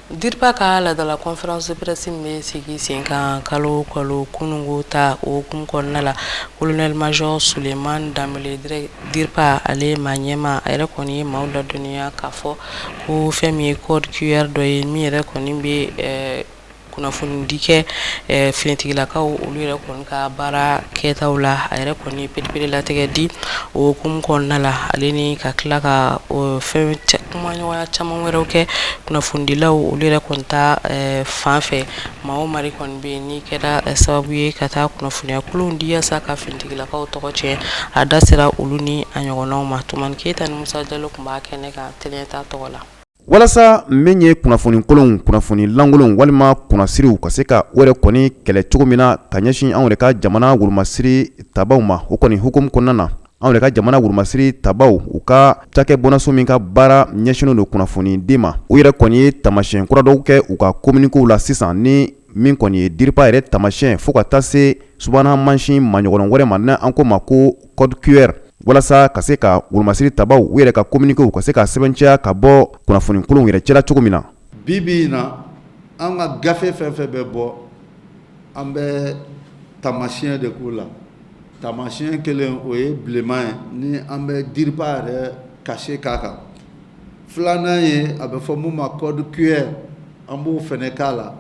DIRPA ka laadala conférence de presse min bɛ sigi sen kan kalo kalo kununko ta o hukumu kɔnɔna la kolonɛli mazɔri Suleman Danbele dire DIRPA ale maa ɲɛmaa a yɛrɛ kɔni ye maaw ladɔnniya k'a fɔ ko fɛn min ye code QR dɔ ye min yɛrɛ kɔni bɛ kunnafoni di kɛ finitigilakaw olu yɛrɛ kɔni ka baara kɛtaw la a yɛrɛ kɔni pereperelatigɛ di o hukumu kɔnɔna la ale ni ka tila ka fɛn kumaɲɔgɔnya caman wɛrɛ kɛ kunnafonidilaw olu yɛrɛ kɔni ta fan fɛ maa o mari kɔni bɛ ni kɛra sababu ye ka taa kunnafoniya kolon di yaasa ka finitigilakaw tɔgɔ tiɲɛ a da sera olu ni a ɲɔgɔnnaw ma Tumani Keyita ni Musa Jalo tun b'a kɛnɛ kan t tɔgɔ la Walasa min ye kunnafoni kolon kunnafoni lankolon walima kunnasiriw ka se ka o yɛrɛ kɔni kɛlɛ cogo min na ka ɲɛsin anw yɛrɛ ka jamana wolomasiri tabaw ma o kɔni hukumu kɔnɔna na anw yɛrɛ ka jamana wolomasiri tabaw u ka cakɛ bɔnaso min ka baara ɲɛsinnen don kunnafoni di ma u yɛrɛ kɔni ye tamasiyɛn kura dɔw kɛ u ka kominikew la sisan ni min kɔni ye DIRPA yɛrɛ tamasiyɛn fo ka taa se subahana mansin maɲɔgɔn wɛrɛ ma n'an ko ma ko code QR walasa ka se ka wolomasiri tabaw u yɛrɛ ka communiqués u ka se ka sɛbɛnciya ka bɔ kunnafoni kolonw yɛrɛ cɛla cogo min na. Bi bi in na an ka gafe fɛn fɛn bɛ bɔ an bɛ tamasiyɛn de k'u la tamasiyɛn kelen o ye bilenman ye ni an bɛ DIRPA yɛrɛ cachet k'a kan filanan ye a bɛ fɔ min ma code QR an b'o fana k'a la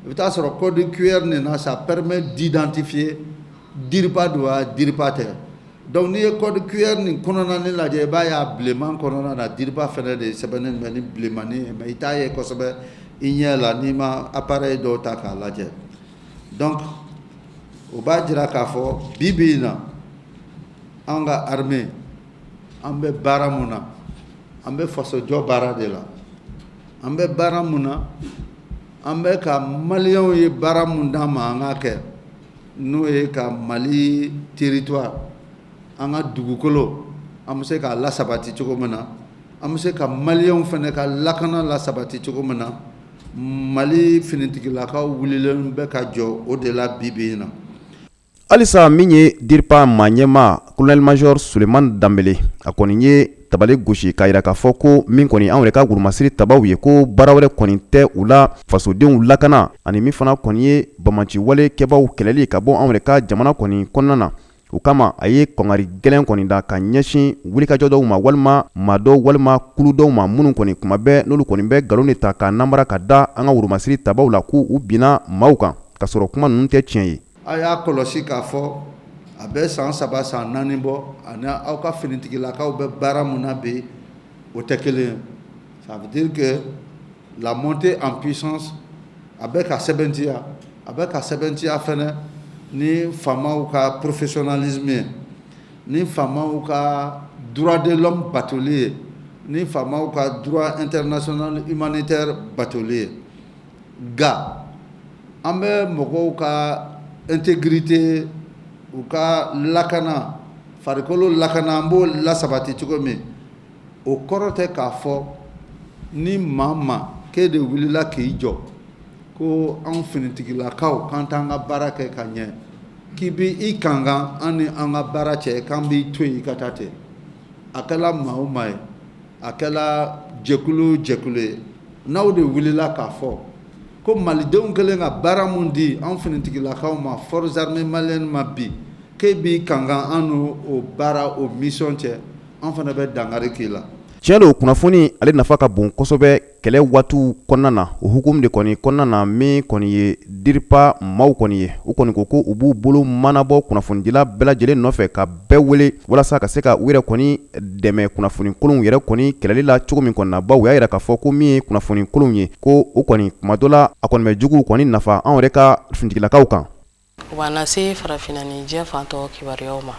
I bɛ t'a sɔrɔ code QR nin na ça permet d'identifier DIRPA don wa DIRPA tɛ donc n'i ye code QR nin kɔnɔna in lajɛ i b'a y'a bilenman kɔnɔna na DIRPA fɛnɛ de sɛbɛnnen bɛ ni bilenmanin ye mais i t'a ye kosɛbɛ i ɲɛ la n'i ma appareil dɔ ta k'a lajɛ donc o b'a jira k'a fɔ bi bi in na an ka armée an bɛ baara mun na an bɛ fasojɔ baara de la an bɛ baara mun na an bɛ ka maliyɛnw ye baara min d'an ma an k'a kɛ n'o ye ka mali territoire an ka dugukolo an bɛ se k'a lasabati cogo min na an bɛ se ka maliyɛnw fana ka lakana lasabati cogo min na mali finitigilakaw wulilen bɛ ka jɔ o de la bibi in na Halisa min ye diripa maa ɲɛmaa colonel major soleman danbele a kɔni ye tabali gosi k'a yira k'a fɔ ko min kɔni anw yɛrɛ ka wurumasiri tabaw ye ko baara wɛrɛ kɔni tɛ u la fasodenw lakana ani min fana kɔni ye banbaanciwale kɛbaw kɛlɛli ka bɔ anw yɛrɛ ka jamana kɔni kɔnɔna na o kama a ye kankari gɛlɛn kɔni da ka ɲɛsin wulikajɔ dɔw ma walima maa dɔ walima kulu dɔw ma minnu kɔni kuma bɛɛ n'olu kɔni bɛ nkalon de ta ka namara ka da an ka wurumasiri tabaw la k'u binna maaw kan k'a sɔrɔ kuma ninnu tɛ tiɲɛ ye A y'a kɔlɔsi k'a fɔ a bɛ san saba san naani bɔ ani aw ka finitigilakaw bɛ baara min na bi o tɛ kelen ye ça veut dire que la montée en puissance a bɛ ka sɛbɛntiya a bɛ ka sɛbɛntiya fana ni faamaw ka professionnalisme ye ni faama ka droit de l'homme batoli ye ni faama ka droit international humanitaire batoli ye nka an bɛ mɔgɔw ka intégrité u ka lakana farikolo lakana an b'o lasabati cogo min o kɔrɔ tɛ k'a fɔ ni maa ma k'e de wulila k'i jɔ ko an finitigilakaw k'an t'an ka baara kɛ ka ɲɛ k'i bɛ i kankan an ni an ka baara cɛ k'an b'i to yen i ka taa ten a kɛla maa o maa ye a kɛla jɛkulu jɛkulu ye n'aw de wulila k'a fɔ ko malidenw kɛlen ka baara min di an finitigilakaw ma forces armées maliennes ma bi k'e b'i kankan an n'o baara o misɔn cɛ an fana bɛ dankari k'i la tiɲɛ don kunnafoni ale nafa ka bon kosɛbɛ kɛlɛ waatiw kɔnɔna na o hukumu de kɔni kɔnɔna na min kɔni ye diripa maaw kɔni ye u kɔni ko ko u b'u bolo manabɔ kunnafonidila bɛɛ lajɛlen nɔfɛ ka bɛɛ wele walasa ka se ka u yɛrɛ kɔni dɛmɛ kunnafonikolonw yɛrɛ kɔni kɛlɛli la cogo min kɔni na baw u y'a yira k'a fɔ ko min ye kunnafonikolonw ye ko o kɔni kuma dɔ la a kɔni bɛ juguw kɔni nafa anw yɛrɛ ka finitigilakaw kan O b'an lase farafinna ni diɲɛ fantɔ kibaruyaw ma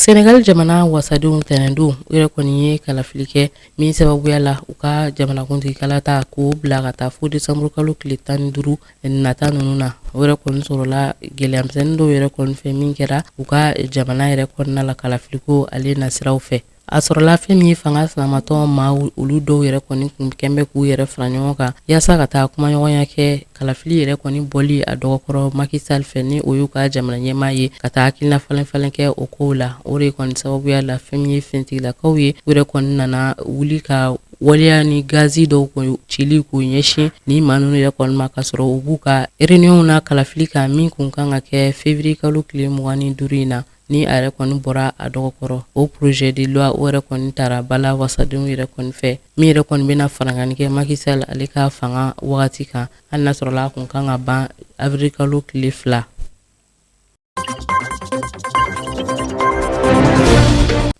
sɛnɛgali jamana wasadenw tɛnɛndon u yɛrɛ kɔni ye kalafili kɛ min sababuya la u ka jamanakuntigi kalata k'o bila ka taa fo desanburukalo tile tan ni duuru nata ninnu na o yɛrɛ kɔni sɔrɔla gɛlɛyamisɛnnin dɔw yɛrɛ kɔni fɛ min kɛra u ka jamana yɛrɛ kɔnɔna la kalafiliko ale nasiraw fɛ a sɔrɔla fɛn min ye fanga sinamatɔn maaw olu dɔw yɛrɛ kɔni kun kɛnbɛ k'u yɛrɛ fara ɲɔgɔn kan yaasa ka taa kumaɲɔgɔnya kɛ kalafili yɛrɛ kɔni bɔli a dɔgɔkɔrɔ Macky Sall fɛ ni o y'u ka jamana ɲɛmaa ye ka taa hakilina falenfalen kɛ o kow la o de kɔni sababuya la fɛn min ye finitigilakaw ye u yɛrɛ kɔni nana wuli ka waleya ni gazi dɔw kɔni cili k'u ɲɛsin ni maa ninnu yɛrɛ kɔni ma k'a sɔrɔ u b'u ka réunion na kalafili kan min kun kan ka kɛ février kalo tile mugan ni duuru in na ni a yɛrɛ kɔni bɔra a dɔgɔkɔrɔ o projet de loi o yɛrɛ kɔni tara bala wasadenw yɛrɛ kɔni fɛ min yɛrɛ kɔni bɛna farankanni kɛ Macky Sall ale ka fanga wagati kan hali n'a sɔrɔla a kun kan ka ban avril kalo tile fila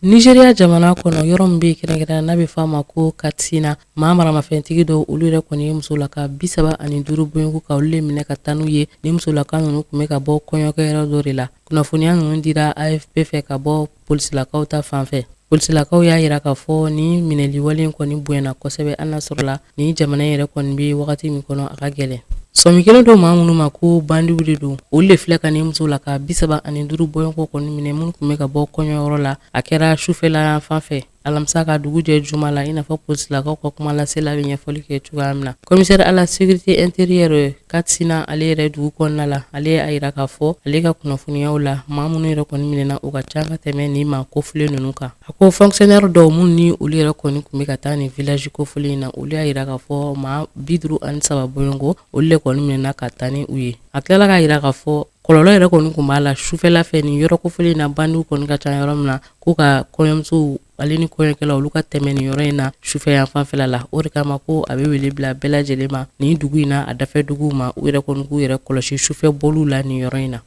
Nigeria jamana kɔnɔ yɔrɔ min bɛ kɛrɛnkɛrɛn n'a bɛ fɔ a ma ko Katsina maa maramafɛntigi dɔw olu yɛrɛ kɔni ye musolaka bisaba ani duuru bɔɲɔgɔnko ka olu le minɛ ka taa n'u ye ni musolaka ninnu kun bɛ ka bɔ kɔɲɔkɛyɔrɔ dɔ de la kunnafoniya ninnu dira AFP fɛ ka bɔ polisilakaw ta fan fɛ polisilakaw y'a yira k'a fɔ ni minɛliwale in kɔni bonyana kosɛbɛ hali n'a sɔrɔla ni jamana yɛrɛ kɔni bɛ wagati min kɔnɔ a ka gɛlɛn sɔmi kɛlen don maa minnu ma ko bandiw de don olu de filɛ ka ni musolaka bisaba ani duuru bɔɲɔgɔnko kɔni minɛ minnu kun bɛ ka bɔ kɔɲɔyɔrɔ la a kɛra sufɛla fan fɛ alamisa ka dugu jɛ juma la i n'a fɔ polisilakaw ka kumalasela bɛ ɲɛfɔli kɛ cogoya min na commissaire à la sécurité intérieure Katsina ale yɛrɛ dugu kɔnɔna la ale y'a yira k'a fɔ ale ka kunnafoniyaw la maa minnu yɛrɛ kɔni minɛna u ka ca ka tɛmɛ ni maa kofɔlen ninnu kan a ko fonctionnaire dɔw minnu ni olu yɛrɛ kɔni kun bɛ ka taa nin village kofɔlen in na olu y'a yira k'a fɔ maa biduuru ani saba bɔɲɔgɔnko olu le kɔni minɛna ka taa ni u ye a tilala k'a yira k'a fɔ kɔlɔlɔ yɛrɛ kɔni kun b'a la sufɛla fɛ nin yɔrɔ kofɔlen in na bandiw kɔni ka ca yɔrɔ min na ko ka kɔɲɔmusow ale ni kɔɲɔkɛla olu ka tɛmɛ nin yɔrɔ in na sufɛ yan fanfɛla la o de kama ko a bɛ wele bila bɛɛ lajɛlen ma nin dugu in na a dafɛ duguw ma u yɛrɛ kɔni k'u yɛrɛ kɔlɔsi sufɛ bɔliw la nin yɔrɔ in na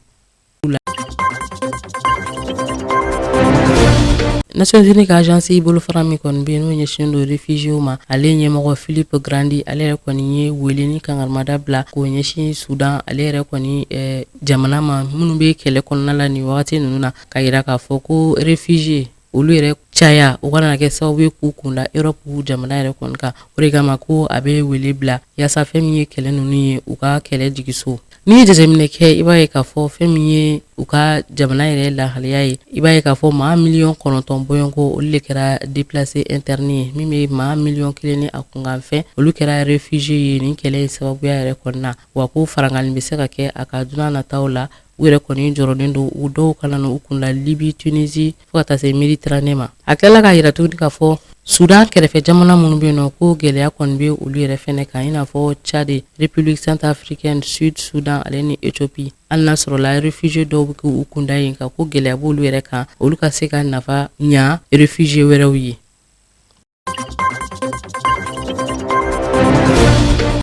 Nations Unies ka agence bolofara min kɔni bɛ yen n'o ɲɛsinnen don réfugiés ma ale ɲɛmɔgɔ Philippe Grandi ale yɛrɛ kɔni ye wele ni kangarimada bila k'o ɲɛsin Sudan ale yɛrɛ kɔni eh, jamana ma minnu bɛ kɛlɛ kɔnɔna la nin wagati ninnu na ka yira k'a fɔ ko réfugiés olu yɛrɛ caya o kana kɛ sababu ye k'u kun da Europe jamana yɛrɛ kɔni kan o de kama ko a bɛ wele bila yaasa fɛn min ye kɛlɛ ninnu ye u ka kɛlɛ jigiso n'i ye jateminɛ kɛ i b'a ye k'a fɔ fɛn min ye u ka jamana yɛrɛ lahaliya ye i b'a ye k'a fɔ maa miliyɔn kɔnɔntɔn bɔɲɔgɔnko olu de kɛra déplacé interne ye min bɛ maa miliyɔn kelen ni a kunkanfɛn olu kɛra réfugié ye nin kɛlɛ in sababuya yɛrɛ kɔnɔna wa ko farankanni bɛ se ka kɛ a kan don nataw la u yɛrɛ kɔni jɔrɔlen don u dɔw kana na u kunda libi tunisi fo ka taa se mediterranee ma a tilala k'a yira tuguni k'a fɔ sudan kɛrɛfɛ jamana minnu bɛ yen nɔ ko gɛlɛya kɔni bɛ olu yɛrɛ fɛnɛ kan i n'a fɔ tchad republique centrafricaine sud sudan ale ni ethiopie hali n'a sɔrɔla refugie dɔw bɛ k'u kunda yen ka ko gɛlɛya b'olu yɛrɛ kan olu ka se ka nafa ɲa refugie wɛrɛw ye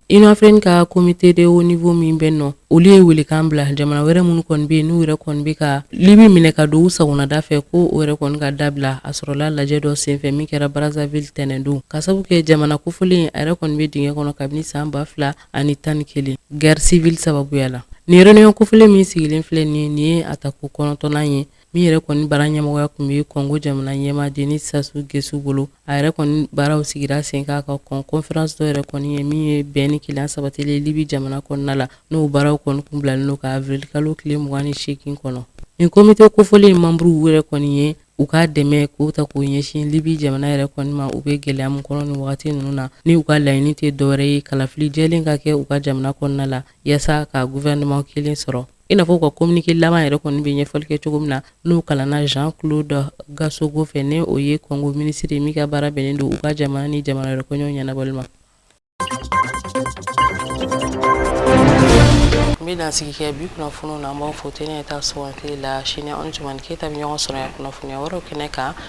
union africaine ka komite de haut niveau min bɛ nɔ olu ye welekan bila jamana wɛrɛ minnu kɔni bɛ yen n'u yɛrɛ kɔni bɛ ka libi minɛ ka don u sagonada fɛ ko o yɛrɛ kɔni ka dabila a sɔrɔla lajɛ dɔ senfɛ min kɛra brazzaville tɛnɛndon ka sabu kɛ jamana kofɔlen a yɛrɛ kɔni bɛ dingɛ kɔnɔ kabini san ba fila ani tan ni kelen guerre civile sababuya la nin reunion kofɔlen min sigilen filɛ nin ye nin ye a tako kɔnɔntɔnnan ye min yɛrɛ kɔni baara ɲɛmɔgɔya kun bɛ kɔngo jamana ɲɛmaa denis sassou nguesso bolo a yɛrɛ kɔni baaraw sigira sen kan ka kɔn conference dɔ yɛrɛ kɔni ɲɛ min ye bɛn ni kelenya sabatili libi jamana kɔnɔna la n'o baaraw kɔni kun bilalen don ka avril kalo tile mugan ni seegin kɔnɔ nin komite kofɔlen in manburuw yɛrɛ kɔni ye u ka dɛmɛ k'u ta k'u ɲɛsin libi jamana yɛrɛ kɔni ma u bɛ gɛlɛya min kɔnɔ nin wagati ninnu na ni u ka laɲini tɛ dɔwɛrɛ ye kalafili jɛlen ka kɛ u ka jamana kɔnɔna la yaasa ka gouvernement kelen sɔrɔ i n'a fɔ u ka kominike laban yɛrɛ kɔni bɛ ɲɛfɔli kɛ cogo min na n'o kalanna jean claude gasogo fɛ n'o ye kɔngo minisiri ye min ka baara bɛnnen don u ka jamana ni jamana wɛrɛ kɔɲɔw ɲɛnabɔli ma an bɛ dansigi kɛ bi kunnafoniw na an b'aw fo tɛnɛ ta sugandili la sini an ni jumani keyita bɛ ɲɔgɔn sɔrɔ yan kunnafoniya wɛrɛw kɛnɛ kan